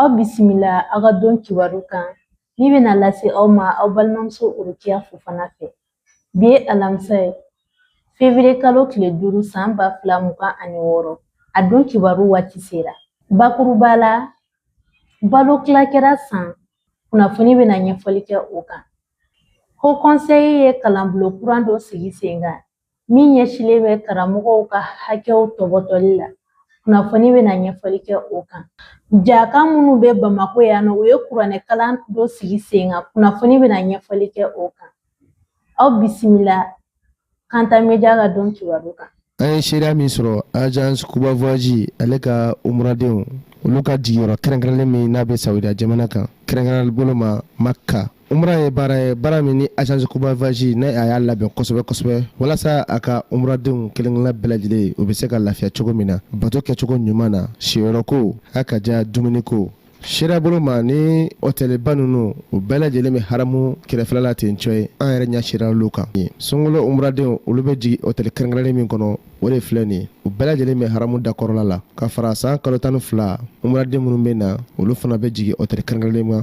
Aw bisimila aw ka don kibaru kan min bɛna lase aw ma aw balimamuso Rokiya Fofana fɛ bi ye alamisa ye fevriye kalo tile duuru san ba fila mugan ani wɔɔrɔ a don kibaru waati sera bakuruba la balo tila kɛra San kunnafoni bɛna ɲɛfɔli kɛ o kan Haut Conseil ye kalanbulon kura dɔ sigi sen kan min ɲɛsinlen bɛ karamɔgɔw ka hakɛw tɔbɔtɔli la kunnafoni bɛna ɲɛfɔli kɛ o kan jaka minnu bɛ bamakɔ yan nɔ u ye kuranɛ kalan dɔ sigi sen kan kunnafoni bɛna ɲɛfɔli kɛ o kan aw bisimila kanta media ka don kibaru kan an ye seereya min sɔrɔ agence kuba voyage ale ka umuradenw olu ka jigiyɔrɔ kɛrɛnkɛrɛnlen min n'a bɛ sawudiya jamana kan kɛrɛnkɛrɛnlen bolo ma makka umra ye baara ye baara min ni agence kuba voyage n'a y'a labɛn kosɛbɛ kosɛbɛ walasa a ka umradenw kelenkelenna bɛɛ lajɛlen u bɛ se ka lafiya cogo min na bato kɛcogo ɲuman na siyɔrɔko a ka diya dumuniko seereya bolo ma ni hɔtɛliba ninnu u bɛɛ lajɛlen bɛ haramu kɛrɛfɛla la ten cɔ ye an yɛrɛ ɲɛ seereyala olu kan sunkalo umradenw olu bɛ jigin hɔtɛli kɛrɛnkɛrɛnnen min kɔnɔ o de filɛ nin u bɛɛ lajɛlen bɛ haramu da kɔrɔla la ka fara san kalo tan ni fila umraden minnu bɛ na olu fana bɛ jigin hɔtɛli kɛrɛnkɛrɛnnen ma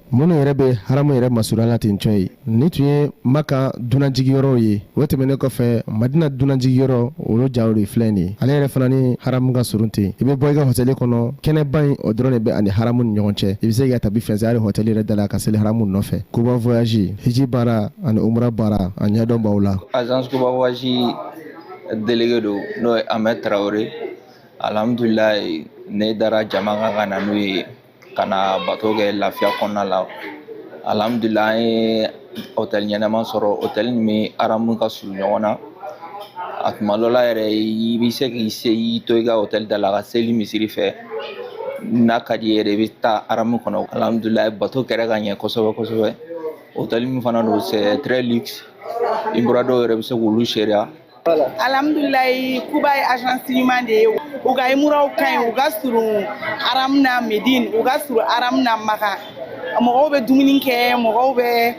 minnu yɛrɛ bɛ haramu yɛrɛ masurunya la ten cɔ ye nin tun ye maka dunanjigiyɔrɔw ye o tɛmɛnen kɔfɛ madina dunanjigiyɔrɔ olu jaw de filɛ nin ye ale yɛrɛ fana ni haramu ka surun ten i bɛ bɔ i ka hɔtɛli kɔnɔ kɛnɛba in o dɔrɔn de bɛ a ni haramu ni ɲɔgɔn cɛ i bɛ se ka tabi fɛnsɛ hali hɔtɛli yɛrɛ da la ka seli haramu nɔfɛ kuba voyage hiji baara ani umra baara a ɲɛdɔn b'aw la agence kuba voyage delege don n'o ye Ahmed Traoré alhamdulilayi ne dara jama kan ka na n'u ye ka na bato kɛ lafiya kɔnɔna la alihamudulila an ye otɛli ɲɛnama sɔrɔ otɛli min ni aramu ka surun ɲɔgɔn na a tuma dɔ la yɛrɛ i bɛ se k'i se i to i ka otɛli da la ka seli misiri fɛ n'a ka di i yɛrɛ i bɛ taa aramu kɔnɔ alihamudulila bato kɛra ka ɲɛ kosɛbɛ kosɛbɛ otɛli min fana don c'est très luxe imuradenw yɛrɛ bɛ se k'olu seereya alhamdulilayi kuba ye agence ɲuman de ye u ka imuraw ka ɲi u ka surun aram na medine u ka surun aram na maka mɔgɔw bɛ dumuni kɛ mɔgɔw bɛ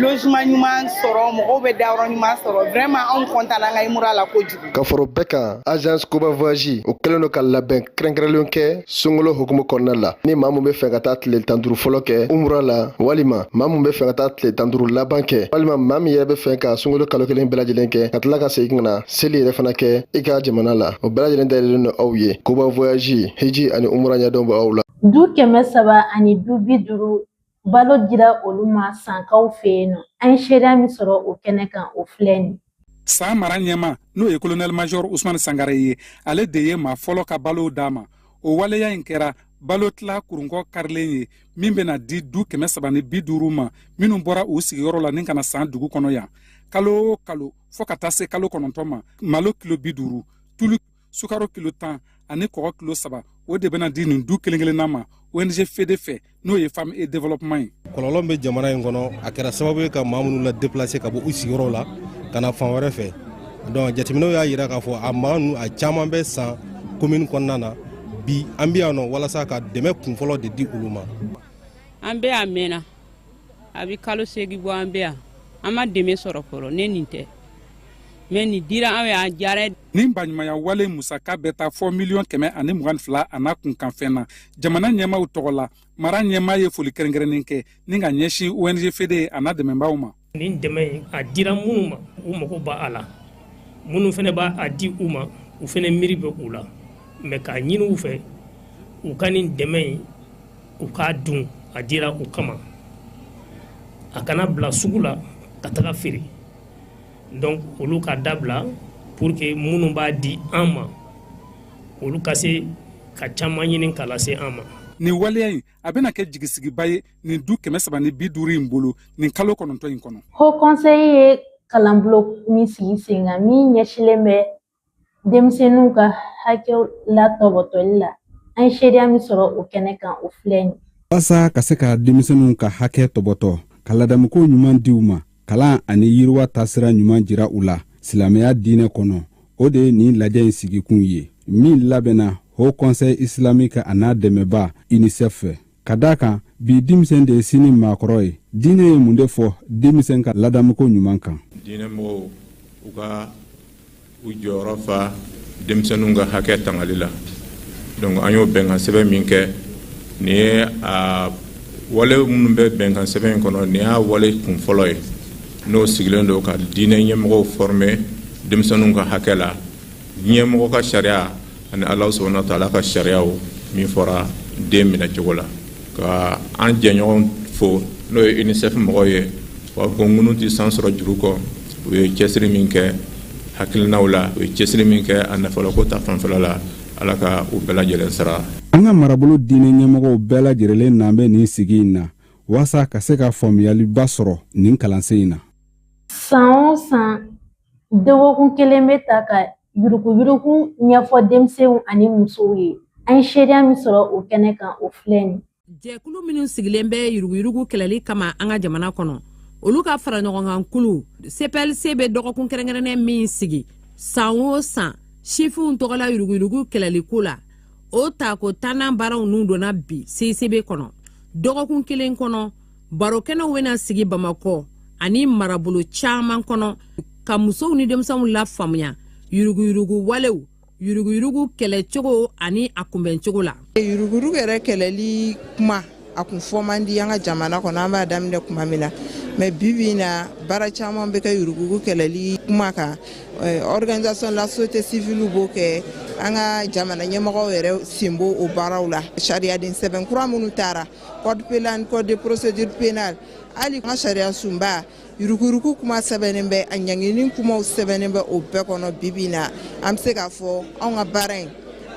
logement ɲuman sɔrɔ mɔgɔw bɛ dayɔrɔ ɲuman sɔrɔ vraiment anw kɔntan an ka imura la kojugu ka fara o bɛɛ kan agence kuba voyage o kɛlen don ka labɛn kɛrɛnkɛrɛnlen kɛ sunkalo hukumu kɔnɔna la ni maa min bɛ fɛ ka taa tile tan duuru fɔlɔ kɛ umura la walima maa min bɛ fɛ ka taa tile tan duuru laban kɛ walima maa min yɛrɛ bɛ fɛ ka sunkalo kalo kelen bɛɛ lajɛlen kɛ ka tila ka segin ka na seli yɛrɛ fana kɛ i ka jamana la o bɛɛ lajɛlen dayɛlɛlen don aw ye kuba voyage hiji ani umura ɲɛdɔn bɛ aw la du kɛmɛ saba ani du bi duuru Balo dira olu ma sankaw fɛ yen nɔ an ye seereya min sɔrɔ o kɛnɛ kan o filɛ nin san mara ɲɛmaa n'o ye kolonɛli majɔr usumani sangare ye ale de ye maa fɔlɔ ka balow d'a ma o waleya in kɛra balo tila kurunkɔ karilen ye min bɛna di du kɛmɛ saba ni bi duuru ma minnu bɔra u sigiyɔrɔ la ni ka na san dugu kɔnɔ yan kalo o kalo fɔ ka taa se kalo kɔnɔntɔn ma malo kilo bi duuru tulu sukaro kilo tan ani kɔgɔ kilo saba o de bɛna di nin du kelen kelenna ma ong fede fɛ n'o ye femme et développement ye kɔlɔlɔ bɛ jamana in kɔnɔ a kɛra sababu ye ka maa minnu la déplacer ka bɔ u sigiyɔrɔw la ka na fan wɛrɛ fɛ donc jateminɛw y'a yira k'a fɔ a maa ninnu a caman bɛ san commune kɔnɔna na bi an bɛ yan nɔ walasa ka dɛmɛ kunfɔlɔ de di olu ma an bɛ yan mɛnna a bɛ kalo segin bɔ an bɛ yan an ma dɛmɛ sɔrɔ fɔlɔ ni nin tɛ mais nin diyara an ye a diyara nin baɲumanya wale musaka bɛ taa fɔ miliyɔn kɛmɛ ani mugan ni fila a n'a kunkanfɛn na jamana ɲɛmaaw tɔgɔ la mara ɲɛmaa ye foli kɛrɛnkɛrɛnnen kɛ ni ka ɲɛsin ong fede a n'a dɛmɛbaaw ma nin dɛmɛ a dira minnu ma u mago b'a la minnu fana b'a di u ma u fana miiri bɛ u la mais k'a ɲini u fɛ u ka nin dɛmɛ in u k'a dun a dira u kama a kana bila sugu la ka taga feere donc olu ka dabila pour que minnu b'a di an ma olu ka se ka caman ɲini k'a lase an ma nin waleya in a bɛna kɛ jigisigiba ye nin du kɛmɛ saba ni bi duuru in bolo nin kalo kɔnɔntɔn in kɔnɔ haut conseil ye kalanbulon min sigi sen kan min ɲɛsilen bɛ denmisɛnninw ka hakɛw latɔbɔtɔli la an ye seereya min sɔrɔ o kɛnɛ kan o filɛ nin walasa ka se ka denmisɛnninw ka hakɛ tɔbɔtɔ ka ladamuko ɲuman di u ma kalan ani yiriwa taasira ɲuman jira u la silamɛya diinɛ kɔnɔ o de ye nin lajɛ in sigikun ye min labɛnna haut conseil islamique a n'a dɛmɛba unicef fɛ ka da a kan bi denmisɛn de ye sini maakɔrɔ ye diinɛ ye mun de fɔ denmisɛn ka ladamuko ɲuman kan diinɛmɔgɔw u ka u jɔyɔrɔ fa denmisɛnninw ka hakɛ tangali la donc an y'o bɛnkan sɛbɛn min kɛ nin ye a wale minnu bɛ bɛnkan sɛbɛn in kɔnɔ nin y'a wale kun fɔlɔ ye n'o sigilen don ka diinɛ ɲɛmɔgɔw former denmisɛnninw ka hakɛ la diɲɛmɔgɔ ka sariya ani ala subhanahu wa ta'ala ka sariyaw min fɔra den minɛ cogo la ka an jɛɲɔgɔn fo n'o ye unicef mɔgɔw ye wa ko ŋunu tɛ san sɔrɔ juru kɔ u ye cɛsiri min kɛ hakilinaw la u ye cɛsiri min kɛ a nafoloko ta fanfɛla la ala ka u bɛɛ lajɛlen sara an ka marabolo diinɛ ɲɛmɔgɔw bɛɛ lajɛlen nanen bɛ nin sigi in na walasa ka se ka faamuyaliba sɔrɔ nin kalansen in na san o san Dɔgɔkun kelen bɛ ta ka yuruguyurugu ɲɛfɔ denmisɛnw ani musow ye an ye seereya min sɔrɔ o kɛnɛ kan o filɛ nin jɛkulu minnu sigilen bɛ yuruguyurugu kɛlɛli kama an ka jamana kɔnɔ olu ka fara ɲɔgɔnkan kulu cplc bɛ dɔgɔkun kɛrɛnkɛrɛnnen min sigi san o san sifinw tɔgɔla yuruguyurugu kɛlɛli ko la o tako tannan baaraw nun donna bi cicb kɔnɔ dɔgɔkun kelen kɔnɔ barokɛnɛw bɛna sigi bamakɔ ani marabolo caman kɔnɔ ka musow ni denmisɛnw lafaamuya yuruguyurugu walew yuruguyurugu kɛlɛcogo ani a kunbɛncogo la yuruguyurugu yɛrɛ kɛlɛli kuma a kun fɔ man di an ka jamana kɔnɔ an b'a daminɛ kuma min na mais bibi in na baara caman bɛ kɛ yuruguyurugu kɛlɛli kuma kan organisation la société civile b'o kɛ an ka jamana ɲɛmɔgɔw yɛrɛ sen b'o o baaraw la sariyaden sɛbɛn kura minnu tara code pénal code de procédure pénale hali an ka sariya sunba yuruguyurugu kuma sɛbɛnnen bɛ a ɲangini kumaw sɛbɛnnen bɛ o bɛɛ kɔnɔ bibi in na an bɛ se k'a fɔ anw ka baara in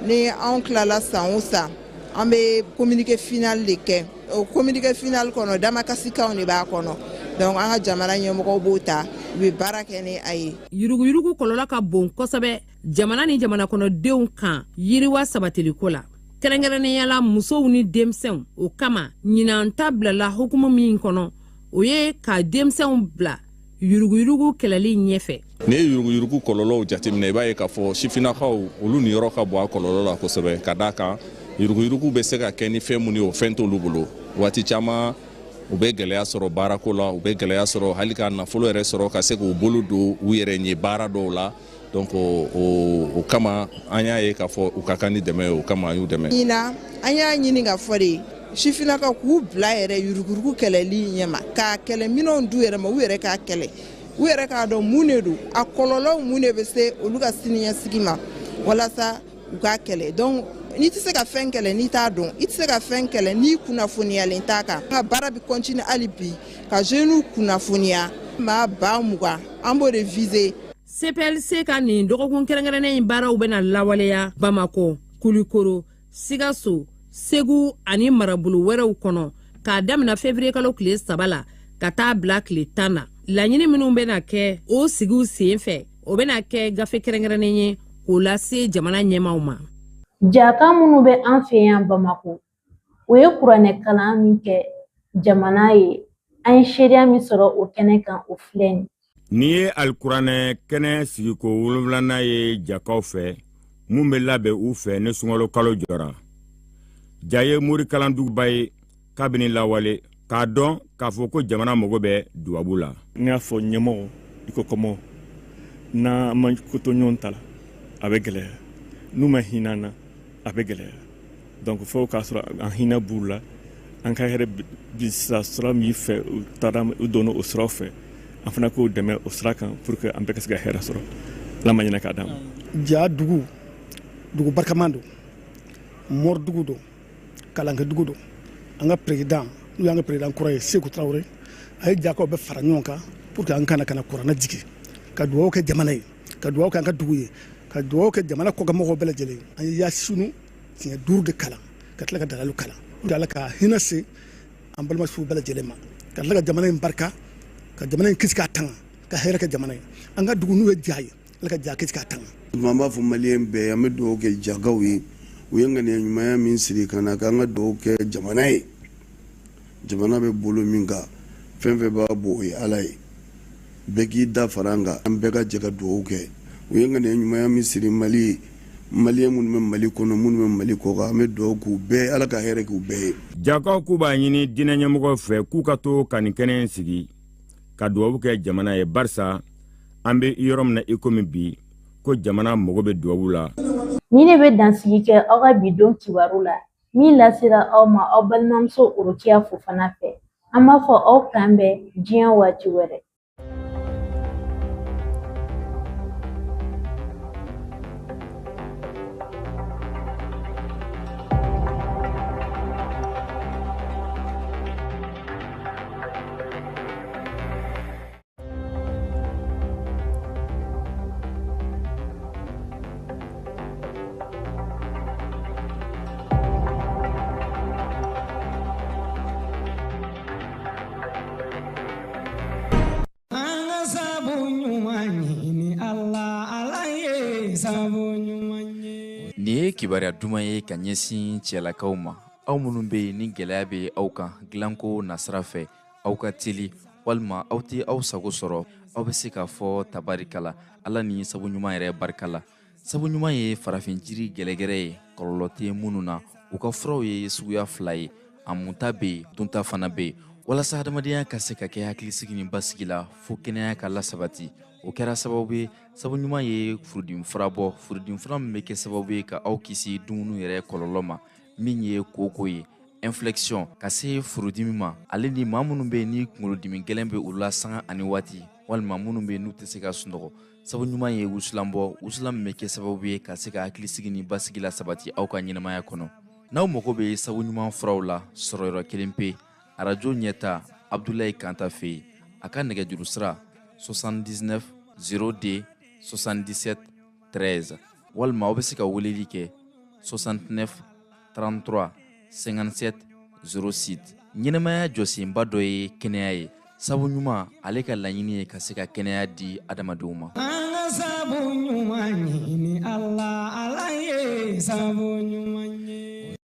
ni anw tilala san o san an bɛ communiqué final de kɛ o communiqué final kɔnɔ damakasikanw de b'a kɔnɔ donc an ka jamana ɲɛmɔgɔw b'o ta u bɛ baara kɛ ni a ye yuruguyurugu kɔlɔlɔ ka bon kosɛbɛ jamana ni jamanakɔnɔdenw kan yiriwa sabatiliko la kɛrɛnkɛrɛnnenya la musow ni denmisɛnw o kama ɲinan ta bilala hukumu min kɔnɔ o ye ka denmisɛnw bila yuruguyurugu kɛlɛli ɲɛfɛ n'i ye yuruguyurugu kɔlɔlɔw jateminɛ i b'a ye k'a fɔ sifinnakaw olu niyɔrɔ ka bon a kɔlɔlɔ la kosɛbɛ ka d'a kan yuruguyurugu bɛ se ka kɛ ni fɛn minnu ye o fɛn t'olu bolo waati caman u bɛ gɛlɛya sɔrɔ baarako la u bɛ gɛlɛya sɔrɔ hali ka nafolo yɛrɛ sɔrɔ ka se k'u bolo don u yɛrɛ ye baara dɔw la donc o kama an y'a ye k'a fɔ u ka kan ni dɛmɛ ye o kama an y'u dɛmɛ ɲinan an y'a ɲini k'a fɔ de sifinnakaw k'u bila yɛrɛ yuruguyurugu kɛlɛli ɲɛma k'a kɛlɛ minɛnw d'u yɛrɛ ma u yɛrɛ k'a kɛlɛ u yɛrɛ k'a dɔn mun de don a kɔlɔlɔw mun de bɛ se olu ka siniɲɛsigi ma walasa u k'a kɛlɛ donc n'i tɛ se ka fɛn kɛlɛ n'i t'a dɔn i tɛ se ka fɛn kɛlɛ n'i kunnafoniyalen t'a kan an ka baara bɛ continuer hali bi ka jeunes kunnafoniya maa ba mugan an b'o de viser cplc ka nin dɔgɔkun kɛrɛnkɛrɛnnen in baaraw bɛna lawaleya bamakɔ kulikoro sikaso segu ani marabolo wɛrɛw kɔnɔ k'a damina février kalo tile saba la ka taa bila tile tan na laɲini minnu bɛna kɛ o sigiw sen fɛ o bɛna kɛ gafe kɛrɛnkɛrɛnnen ye k'o lase jamana ɲɛmaaw ma jaka minnu bɛ an fɛ yan bamakɔ u ye kuranɛ kalan min kɛ jamana ye an ye seereya min sɔrɔ o kɛnɛ kan o filɛ nin nin ye alikuranɛ kɛnɛ sigiko wolonwulanan ye jakaw fɛ mun bɛ labɛn u fɛ ni sunkalo kalo jɔra ja ye morikalanduguba ye kabini lawale k'a dɔn k'a fɔ ko jamana mago bɛ dubabu la n'i y'a fɔ ɲɛmɔgɔ i ko kɔmɔgɔ n'an ma ko to ɲɔgɔn ta la a bɛ gɛlɛya n'u ma hinɛ an na a bɛ gɛlɛya donc fo k'a sɔrɔ an hinɛ b'u la an ka hɛrɛ bɛ sɔrɔ sira min fɛ u taara u donna o siraw fɛ an fana k'u dɛmɛ o sira kan pour que an bɛɛ ka se ka hɛrɛ sɔrɔ ala ma ɲinɛ k'a d'an ma ja dugu dugu barikaman don mɔridugu don kalankɛ dugu don an ka président n'o y'an ka président kura ye seku tarawele a ye jakaw bɛɛ fara ɲɔgɔn kan pour que an ka na ka na kuranɛ jigin ka dugawu kɛ jamana ye ka dugawu kɛ an ka dugu ye ka dugawu kɛ jamana kɔkanmɔgɔw bɛɛ lajɛlen an ye yasunu siɲɛ duuru de kalan ka tila ka dalayilu kalan ala ka hinɛ se an balimasuw bɛɛ lajɛlen ma ka tila ka jamana in barika ka jamana in kisi k'a tanga ka hɛrɛ kɛ jamana ye an ka dugu n'o ye ja ye ala ka ja kisi k'a tanga an b'a fɔ maliyɛn bɛɛ an bɛ dugawu kɛ jakaw ye u ye ŋaniya ɲumanya min siri ka na k'an ka dugawu kɛ jamana ye jamana bɛ bolo min kan fɛn fɛn b'a bɔ o ye ala ye bɛɛ k'i da fara an kan an bɛɛ ka jɛ ka dugawu kɛ u ye ŋaniya ɲumanya min siri mali ye maliyɛn minnu bɛ mali kɔnɔ minnu bɛ mali kɔ kan an bɛ dugawu k'u bɛɛ ala ka hɛrɛ k'u bɛɛ ye jakaw k'u b'a ɲini diinɛ ɲɛmɔgɔw fɛ k'u ka to ka nin kɛnɛ in sigi ka dugawu kɛ jamana ye barisa an bɛ yɔrɔ min na i komi bi ko jamana mago bɛ dubabu la nin de bɛ dansigi kɛ aw ka bi don kibaru la min lasera aw ma aw balimamuso orokiya fofana fɛ an b'a fɔ aw k'an bɛn diɲɛ waati wɛrɛ kibaruya duman ye ka ɲɛsin cɛlakaw ma aw minnu bɛ yen ni gɛlɛya bɛ aw kan dilanko nasira fɛ aw ka teli walima aw tɛ aw sago sɔrɔ aw bɛ se k'a fɔ tabarikala ala ni sabu ɲuman yɛrɛ barika la sabu ɲuman ye farafin jiri gɛrɛgɛrɛ ye kɔlɔlɔ tɛ minnu na u ka furaw ye suguya fila ye a munta bɛ yen dunta fana bɛ yen walasa hadamadenya ka se ka kɛ hakilisigi ni basigi la fo kɛnɛya ka lasabati o kɛra sababu ye sabu ɲuman ye furudimi fura bɔ furudimi fura min bɛ kɛ sababu ye ka aw kisi dumuni yɛrɛ kɔlɔlɔ ma min ye kooko ye infection ka se furudimi ma ale ni maa minnu bɛ yen ni kunkolodimi gɛlɛn bɛ u la sanga ani waati walima minnu bɛ yen n'u tɛ se ka sunɔgɔ sabu ɲuman ye wusulan bɔ wusulan min bɛ kɛ sababu ye ka se ka hakilisigi ni basigi lasabati aw ka ɲɛnamaya kɔnɔ n'aw mago bɛ sabu ɲuman furaw la sɔrɔyɔrɔ kelen pe arajo ɲɛta abdulayi kanta fɛ yen a ka nɛgɛjuru sira 79 02 77 13 walima aw bɛ se ka weleli kɛ 69 33 57 06 ɲɛnamaya jɔsenba dɔ ye kɛnɛya ye sabu ɲuman ale ka laɲini ye ka se ka kɛnɛya di adamadenw ma an ka sabu ɲuman ɲini ala ala ye sabu ɲuman